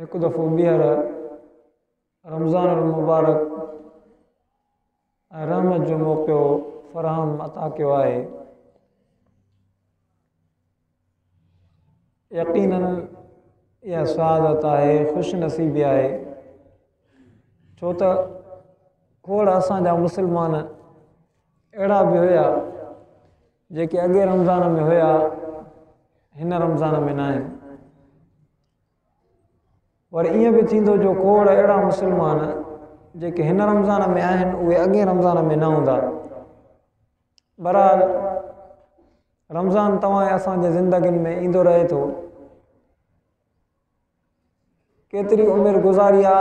هڪ دفعو ٻيهر رمضان المبارڪ ۽ رحمت جو موقعو فراهم عطا ڪيو آهي يقينن اها سعادت آهي خوش نصيبي آهي ڇو ته کوڙ اسان جا مسلمان اهڙا به هيا جيڪي اڳئين رمضان ۾ هيا هن رمضان ۾ ناهن ور ائين به ٿيندو جو کوڙ اهڙا مسلمان جيڪي هن رمضان ۾ آهن اهي اڳئين رمضان ۾ نه هوندا برحال رمضان توهان ۽ اسان جي زندگين ۾ ايندو رهي ٿو ڪيتري عمر گذاري آ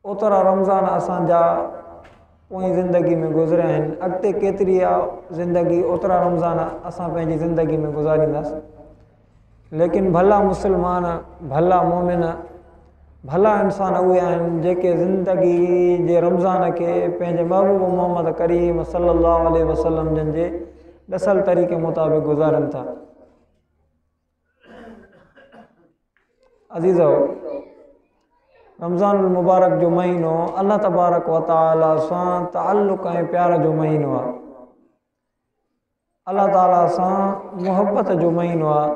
اوترا رمضان اسان جا پوئين زندگي ۾ گذريا آهن، اڳتي ڪيتري ئي زندگي اوترا رمضان اسان پنهنجي زندگي ۾ گذارينداس. ليڪن ڀلا مسلمان، ڀلا مومن، ڀلا انسان اهي آهن جيڪي زندگي جي رمضان کي پنهنجي محبوب محمد ڪريم صلي الله عليه وسلم جن جي ڏسل طريقي مطابق گذارين ٿا. عزيزو رمضان المبارڪ جو مهينو الله تبارڪ وتعالى سان تعلق ۽ پيار جو مهينو آهي الله تعالى سان محبت جو مهينو آهي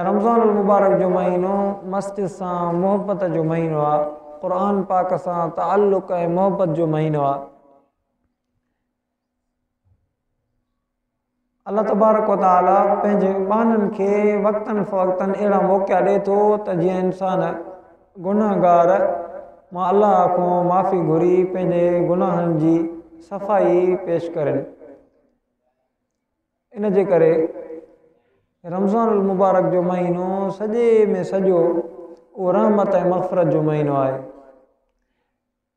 ۽ رمضان المبارڪ جو مهينو مسجد سان محبت جو مهينو آهي قرآن پاڪ سان تعلق ۽ محبت جو مهينو آهي الله تبارڪ و تعالي پنهنجي ٻانهن کي وقتن فوقتن اهڙا موقعا ڏئي ٿو ته جيئن انسان گنهگار مان الله کان معافي گهري پنهنجي گناهن جي صفائي پيش ڪرين ان جي ڪري رمضان المبارڪ جو مهينو سڄي ۾ سڄو اهو رحمت ۽ مغفرت جو مهينو آهي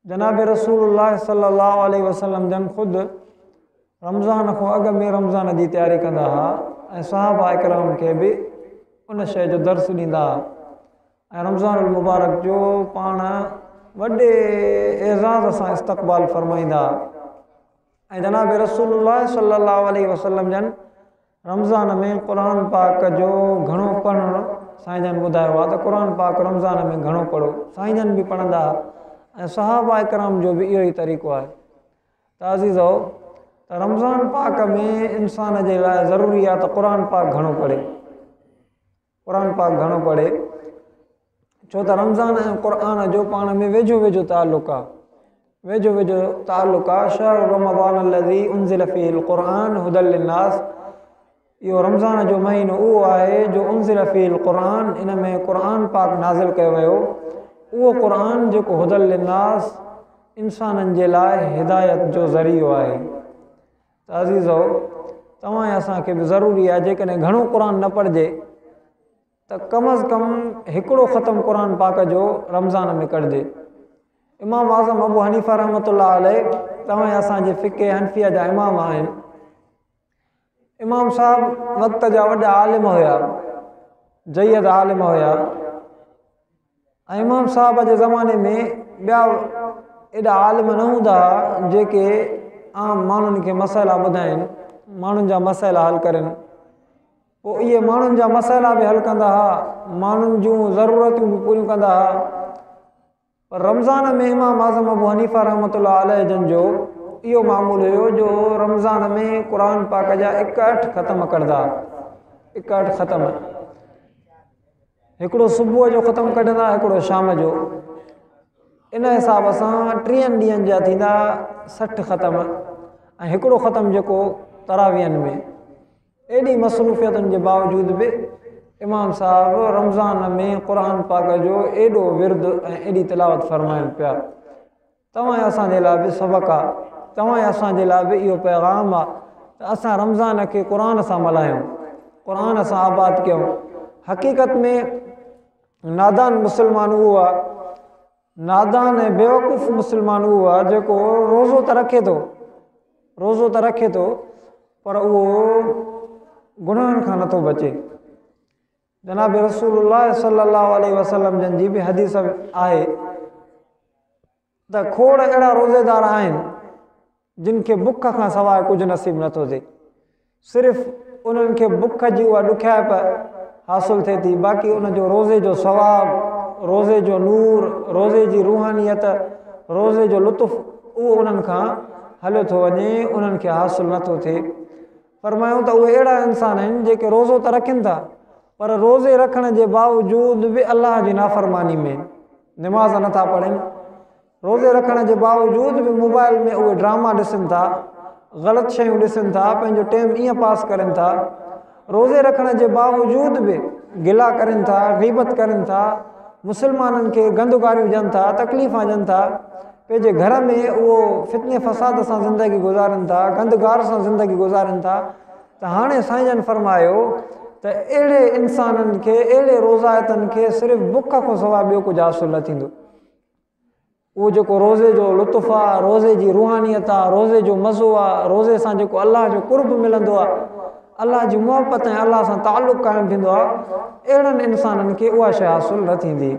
جناب رسول الله صلي الله عليه وسلم جن خود رمضان کان اڳ ۾ رمضان جي تياري ڪندا ها ۽ صحابه اڪرام کي به ان شيء جو درس ڏيندا ها ۽ رمضان المبارڪ جو پاڻ وڏي اعزاز سان استقبال فرمائيندا ها ۽ جناب رسول الله صلي الله عليه وسلم جن رمضان ۾ قرآن پاڪ جو گهڻو پڙهڻ سائين جن ٻڌايو آهي ته قرآن پاڪ رمضان ۾ گهڻو پڙهو سائين جن به پڙهندا هئا ۽ صحابه ڪرام جو به اهو ئي طريقو آهي ته عزيزو ته رمضان پاڪ ۾ انسان جي لاء ضروري آهي ته قرآن پاڪ گهڻو پڙهي قرآن پاڪ گهڻو پڙهي ڇو ته رمضان ۽ قرآن جو پاڻ ۾ ويجهو ويجهو تعلق آهي ويجهو ويجهو تعلق آهي شهر رمضان الذي انزل فيه القرآن هدى للناس اهو رمضان جو مهينو اهو آهي جو انزل فيه القرآن ان ۾ قرآن پاڪ نازل ڪيو ويو اهو قرآن جيڪو هدى للناس انسانن جي لاء هدايت جو ذريعو آهي ته عزيزو توهان ۽ اسان کي به ضروري آهي جيڪڏهن گهڻو قرآن نه پڙهجي ته ڪم از ڪم هڪڙو ختم قرآن پاڪ جو رمضان ۾ ڪرجي امام اعظم ابو حنيفه رحمت الله عليه توهان ۽ اسان جي فقه حنفيه جا امام آهن امام صاحب وقت جا وڏا عالم هيا جيد عالم هيا ۽ امام صاحب جي زماني ۾ ٻيا ايڏا عالم نه هوندا ها جيڪي عام ماڻهن کي مسئلا ٻڌائين ماڻهن جا مسئلا حل ڪرن پوء اهي ماڻهن جا مسئلا به حل ڪندا ها ماڻهن جون ضرورتون به پوريون ڪندا ها پر رمضان ۾ امام اعظم ابو حنيفا رحمت الله عليه جن جو اهو معمول هيو جو رمضان ۾ قرآن پاڪ جا اڪهٺ ختم ڪردا اڪهٺ ختم هڪڙو صبح جو ختم ڪڍندا هڪڙو شام جو ان حساب سان ٽيهن ڏينهن جا ٿيندا سٺ ختم ۽ هڪڙو ختم جيڪو تراويهن ۾ ايڏي مصروفيتن جي باوجود به امام صاحب رمضان ۾ قرآن پاڪ جو ايڏو ورد ۽ ايڏي تلاوت فرمائن پيا توهان ۽ اسان جي لاء به سبق آ. توهان ۽ اسان جي لاء به اهو پيغام آ ته اسان رمضان کي قرآن سان ملهايون، قرآن سان آباد ڪيون. حقيقت ۾ نادان مسلمان اهو آ، نادان ۽ بيوقوف مسلمان اهو آ جيڪو روزو ته رکي ٿو، روزو ته رکي ٿو پر اهو گناهن کان نٿو بچي. جناب رسول الله صلي الله عليه وسلم جن جي به حديث آهي ته کوڙ اهڙا روزيدار آهن جن کي بک کان سواء ڪجهه نصيب نه ٿو ٿئي صرف انهن کي بک جي اها ڏکيائپ حاصل ٿئي ٿي باقي ان جو روزي جو ثواب روزي جو نور روزي جي روحانيت روزي جو لطف اهو انهن کان هليو ٿو وڃي انهن کي حاصل نٿو ٿئي فرمايائون ته اهي اهڙا انسان آهن جيڪي روزو ته رکن ٿا پر روزي رکڻ جي باوجود به الله جي نافرماني ۾ نماز نه ٿا پڙهن، روزي رکڻ جي باوجود به موبائل ۾ اهي ڊراما ڏسن ٿا، غلط شيون ڏسن ٿا، پنهنجو ٽيم ائين پاس ڪرن ٿا، روزي رکڻ جي باوجود به گلا ڪرن ٿا، غيبت ڪرن ٿا، مسلمانن کي گند گاريون ڏين ٿا، تڪليفان ڏين ٿا. پنهنجي گهر ۾ اهو فتني فساد سان زندگي گذارين ٿا، گند گار سان زندگي گذارين ٿا ته هاڻي سائين جن فرمايو ته اهڙي انسانن کي اهڙي روزائتن کي صرف بک کان سواء ٻيو ڪجهه حاصل نه ٿيندو اهو جيڪو روزي جو لطف آ روزي جي روحانيت آ روزي جو مزو آ روزي سان جيڪو الله جو قرب ملندو آ الله جي محبت ۽ الله سان تعلق قائم ٿيندو آ اهڙن انسانن کي اها شيء حاصل نه ٿيندي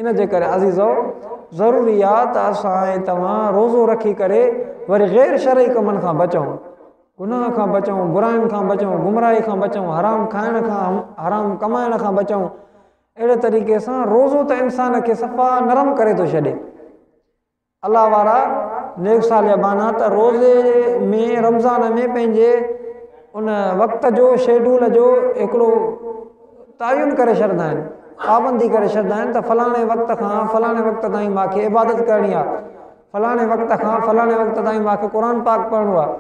ان جي ڪري عزيزؤ! ضروري آ ته اسان ۽ توهان روزو رکي ڪري وري غير شرعي ڪمن کان بچون، گناهه کان بچون، براين کان بچون، گمراهي کان بچون، حرام کائڻ کان، حرام ڪمائڻ کان بچون. اهڙي طريقي سان روزو ته انسان کي صفا نرم ڪري ٿو ڇڏي. الله وارا نيڪ صالح ٻانها ته روزي ۾ رمضان ۾ پنهنجي ان وقت جو شيڊول جو هڪڙو تعين ڪري ڇڏندا آهن پابندي ڪري ڇڏندا آهن ته فلاڻي وقت کان فلاڻي وقت تائين ماکي عبادت ڪرڻي آهي فلاڻي وقت کان فلاڻي وقت تائين ماکي قرآن پاڪ پڙهڻو آهي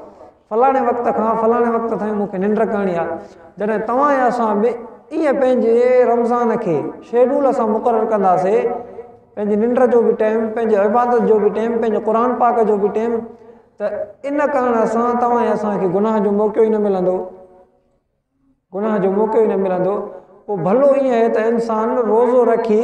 فلاڻي وقت کان فلاڻي وقت تائين مون کي ننڊ ڪرڻي آهي، جڏهن توهان يا اسان به ائين پنهنجي رمضان کي شيڊول سان مقرر ڪنداسي، پنهنجي ننڊ جو به ٽيم، پنهنجي عبادت جو به ٽيم، پنهنجي قرآن پاڪ جو به ٽيم، ته ان ڪرڻ سان توهان يا اسان کي گناهه جو موقعو ئي نه ملندو، گناهه جو موقعو ئي نه ملندو، پوء ڀلو ائين آهي ته انسان روزو رکي.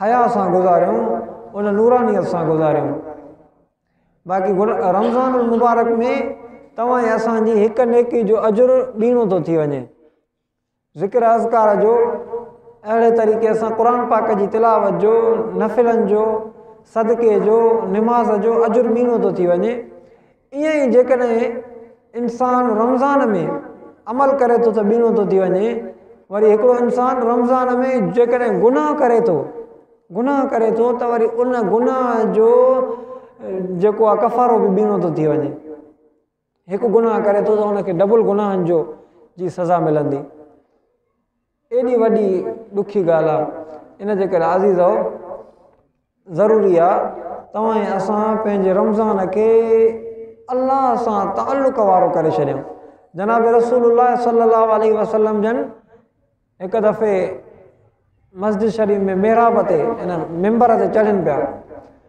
حيا سان گذاريون ان نورانيت سان گذاريون باقي رمضان المبارڪ ۾ توهان ۽ اسان جي هڪ نيڪي جو اجر ٻيڻو ٿو ٿي وڃي ذڪر اذڪار جو اهڙي طريقي سان قرآن پاڪ جي تلاوت جو نفلن جو صدقي جو نماز جو اجر ٻيڻو ٿو ٿي وڃي ائين ئي جيڪڏهن انسان رمضان ۾ عمل ڪري ٿو ته ٻيڻو ٿو ٿي وڃي، وري هڪڙو انسان رمضان ۾ جيڪڏهن گناهه ڪري ٿو، گناهه ڪري ٿو ته وري ان گناهه جو جيڪو آهي ڪفارو به ٻيڻو ٿو ٿي وڃي. هڪ گناهه ڪري ٿو ته ان کي ڊبل گناهن جو جي سزا ملندي. ايڏي وڏي ڏکي ڳالهه آ ان جي ڪري عزيزؤ ضروري آ توهان ۽ اسان پنهنجي رمضان کي الله سان تعلق وارو ڪري ڇڏيون جناب رسول الله صلي الله عليه وسلم جن هڪ دفعي مسجد شريف ۾ محراب تي ان ممبر تي چڙهن پيا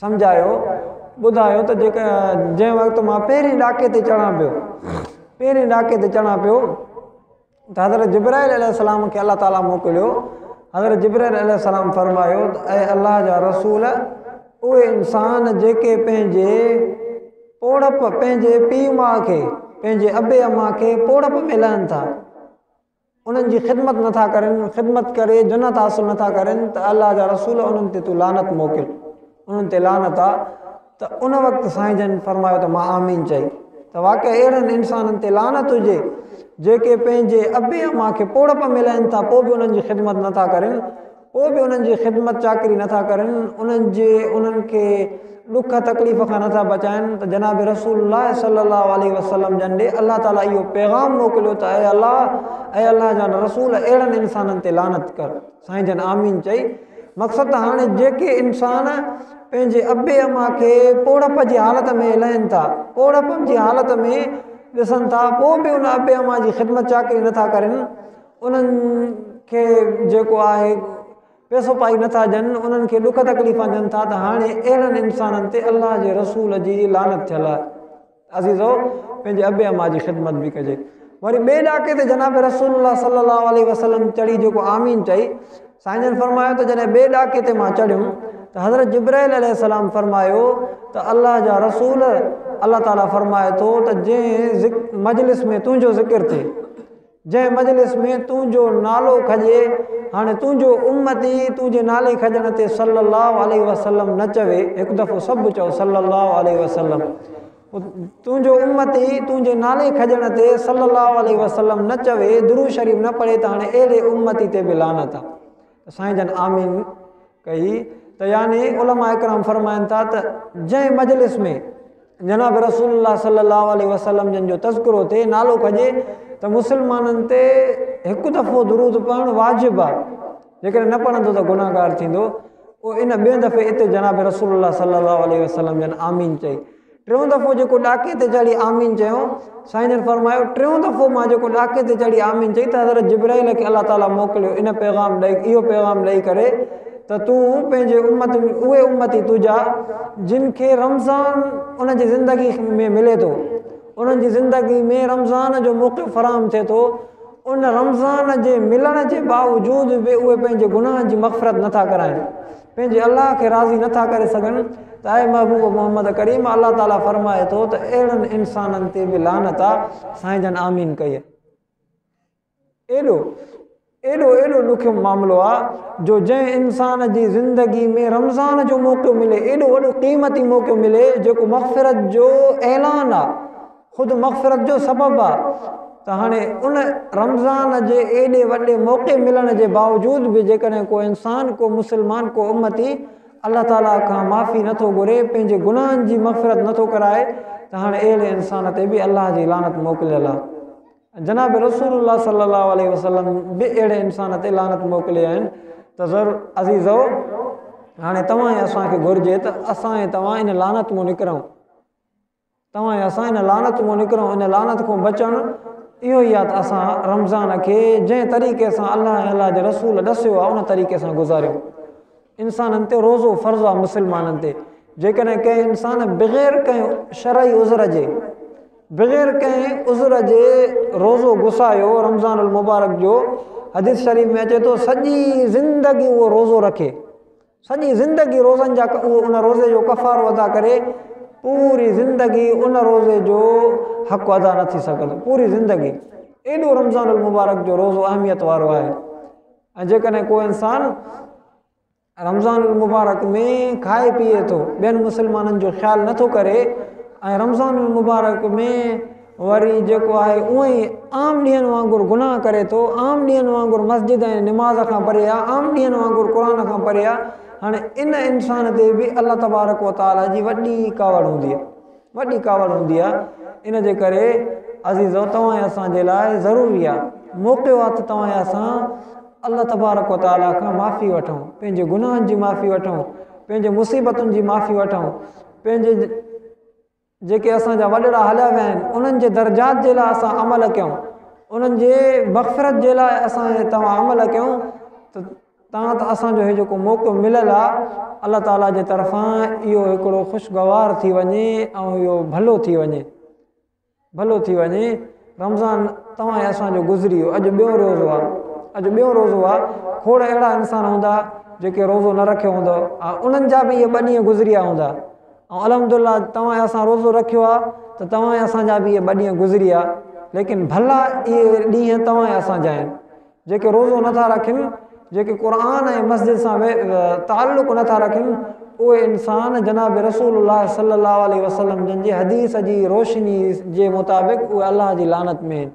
سمجهايو، ٻڌايو ته جنهن وقت مان پهرين ڏاڪي تي چڙهان پيو، پهرين ڏاڪي تي چڙهان پيو ته حضرت جبرائيل عليه السلام کي الله تعالي موڪليو، حضرت جبرائيل عليه السلام فرمايو ته اي الله جا رسول اهي انسان جيڪي پنهنجي پوڙهپ، پنهنجي پيء ماء کي، پنهنجي ابي اما کي پوڙهپ ۾ لهن ٿا، انهن جي خدمت نه ٿا ڪرين، خدمت ڪري جنت حاصل نه ٿا ڪرين ته الله جا رسول انهن تي تون لعنت موڪل، انهن تي لعنت آ، ته ان وقت سائين جن فرمايو ته مان آمين چئي ته واقعي اهڙن انسانن تي لعنت هجي جيڪي پنهنجي ابي امان کي پوڙهپ ۾ لهن ٿا پوء به انهن جي خدمت نه ٿا ڪرين، پوء به انهن جي خدمت چاڪري نه ٿا ڪرن، انهن جي انهن کي ڏک تڪليف کان نه ٿا بچائن ته جناب رسول الله صلي الله عليه وسلم جن ڏي الله تعالي اهو پيغام موڪليو ته اي الله اي الله جا رسول اهڙن انسانن تي لعنت ڪر سائين جن آمين چئي مقصد ته هاڻي جيڪي انسان پنهنجي ابي اما کي پوڙهپ جي حالت ۾ لهن ٿا پوڙهپ جي حالت ۾ ڏسن ٿا پوء به ان ابي اما جي خدمت چاڪري نه ٿا ڪرن انهن کي جيڪو آهي پيسو پائي نٿا ڏين انهن کي ڏک تڪليفا ڏين ٿا ته هاڻي اهڙن انسانن تي الله جي رسول جي لعنت ٿيل آهي عزيزو پنهنجي ابي اما جي خدمت به ڪجي وري ٻئي ڏاڪي تي جناب رسول الله صلي الله عليه وسلم چڙي جيڪو آمين چئي سائين جن فرمايو ته جڏهن ٻئي ڏاڪي تي مان چڙهيم ته حضرت جبرائيل عليه السلام فرمايو ته الله جا رسول الله تعالي فرمائي ٿو ته جنهن مجلس ۾ تنهنجو ذڪر ٿئي جنهن مجلس ۾ تنهنجو نالو کڄي، هاڻي تنهنجو امتي تنهنجي نالي کڄڻ تي صلّي اللّٰه عليه وسلّم نه چوي، هڪ دفعو سڀ چئو صلّي اللّٰه عليه وسلّم. تنهنجو امتي تنهنجي نالي کڄڻ تي صلّي اللّٰه عليه وسلّم نه چوي، درود شريف نه پڙهي ته هاڻي اهڙي امتي تي به لعنت آ. ته سائين جن آمين ڪئي ته يعني علماء اڪرام فرمائن ٿا ته جنهن مجلس ۾ جناب رسول الله صلي الله عليه وسلم جن جو تذڪرو ٿي نالو کجي ته مسلمانن تي هڪ دفعو درود پڙهڻ واجب آ جيڪڏهن نه پڙهندو ته گناهگار ٿيندو ان ٻئي دفعي اتي جناب رسول الله صلي الله عليه وسلم جن آمين چئي ٽيون دفعو جيڪو ڏاڪي تي چڙهي آمين چيو، سائين جن فرمايو، ٽيون دفعو مان جيڪو ڏاڪي تي چڙهي آمين چئي ته حضرت جبرائيل کي الله تعاليٰ موڪليو ان پيغام ڏئي اهو پيغام ڏئي ڪري ته تون پنهنجي امت ۾ اهي امتي تنهنجا جن کي رمضان انهن جي زندگي ۾ ملي ٿو انهن جي زندگي ۾ رمضان جو موقعو فراهم ٿئي ٿو ان رمضان جي ملڻ جي باوجود به اهي پنهنجي گناهن جي مغفرت نٿا ڪرائين پنهنجي الله کي راضي نه ٿا ڪري سگهن ته اي محبوب محمد ڪريم الله تعالي فرمائي ٿو ته اهڙن انسانن تي به لعنت آ سائين جن آمين ڪئي ايڏو ايڏو ايڏو ڏکيو معاملو آ جو جنهن انسان جي زندگي ۾ رمضان جو موقعو ملي ايڏو وڏو قيمتي موقعو ملي جيڪو مغفرت جو اعلان آ خود مغفرت جو سبب آ ته هاڻي ان رمضان جي ايڏي وڏي موقعي ملڻ جي باوجود به جيڪڏهن ڪو انسان ڪو مسلمان ڪو امتي الله تعالي کان معافي نه ٿو گهري پنهنجي گناهن جي مغفرت نه ٿو ڪرائي ته هاڻي اهڙي انسان تي به الله جي لعنت موڪليل آ جناب رسول الله صلي الله عليه وسلم به اهڙي انسان تي لعنت موڪلي آهن ته ضرور عزيزو هاڻي توهان ۽ اسان کي گهرجي ته اسان ۽ توهان ان لعنت مون نڪرون توهان ۽ اسان ان لعنت مان نڪرون، ان لعنت کان بچڻ اهو ئي آهي ته اسان رمضان کي جنهن طريقي سان الله ۽ الله جي رسول ڏسيو آهي ان طريقي سان گذاريون. انسانن تي روزو فرض آهي مسلمانن تي جيڪڏهن ڪنهن انسان بغير ڪنهن شرعي عذر جي بغير ڪنهن عذر جي روزو گسايو رمضان المبارڪ جو حديث شريف ۾ اچي ٿو سڄي زندگي اهو روزو رکي سڄي زندگي روزن جا ڪه اهو ان روزي جو ڪفارو ادا ڪري پوري زندگي ان روزي جو حق ادا نه ٿي سگهندو پوري زندگي ايڏو رمضان المبارڪ جو روزو اهميت وارو آهي ۽ جيڪڏهن ڪو انسان رمضان المبارڪ ۾ کائي پيئي ٿو ٻين مسلمانن جو خيال نٿو ڪري ۽ رمضان المبارڪ ۾ وري جيڪو آهي اونئن ئي عام ڏينهن وانگر گناهه ڪري ٿو، عام ڏينهن وانگر مسجد ۽ نماز کان پري آهي، عام ڏينهن وانگر قرآن کان پري آهي، هاڻي ان انسان تي به الله تبارڪ و تعاليٰ جي وڏي ڪاوڙ هوندي آهي، وڏي ڪاوڙ هوندي آهي، ان جي ڪري عزيزو توهان ۽ اسان جي لاء ضروري آهي، موقعو آهي ته توهان ۽ اسان الله تبارڪ و تعاليٰ کان معافي وٺون، پنهنجي گناهن جي معافي وٺون، پنهنجي مصيبتن جي معافي وٺون، پنهنجي. جيڪي اسان جا وڏڙا هليا ويا آهن انهن جي درجات جي لاء اسان عمل ڪيون انهن جي مغفرت جي لاء اسان جي توهان عمل ڪيون ته تان ته اسان جو هي جيڪو موقعو مليل آ الله تعالي جي طرفان اهو هڪڙو خوشگوار ٿي وڃي ۽ اهو ڀلو ٿي وڃي ڀلو ٿي وڃي رمضان توهان اسان جو گذري ويو اڄ ٻيو روزو آ اڄ ٻيو روزو آ کوڙ اهڙا انسان هوندا جيڪي روزو نه رکيو هوندو انهن جا به اهي ٻه ڏينهن گذريا هوندا ۽ الحمد الله توهان ۽ اسان روزو رکيو آهي ته توهان ۽ اسان جا به اهي ٻه ڏينهن گذريا ليڪن ڀلا اهي ڏينهن توهان ۽ اسان جا آهن جيڪي روزو نٿا رکن جيڪي قرآن ۽ مسجد سان تعلق نٿا رکن اهي انسان جناب رسول الله صلي الله عليه وسلم جن جي حديث جي روشني جي مطابق اهي الله جي لعنت ۾ آهن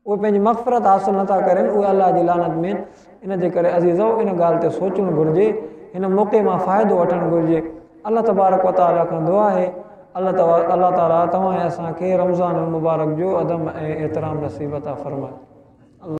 اهي پنهنجي مغفرت حاصل نٿا ڪرين، اهي الله جي لعنت ۾ آهن، ان جي ڪري عزيزؤ ان ڳالهه تي سوچڻ گهرجي، هن موقعي مان فائدو وٺڻ گهرجي، الله تبارڪ و تعاليٰ کان دعا آهي ته الله تعاليٰ توهان ۽ اسان کي رمضان المبارڪ جو ادب ۽ احترام نصيب عطا فرمائي.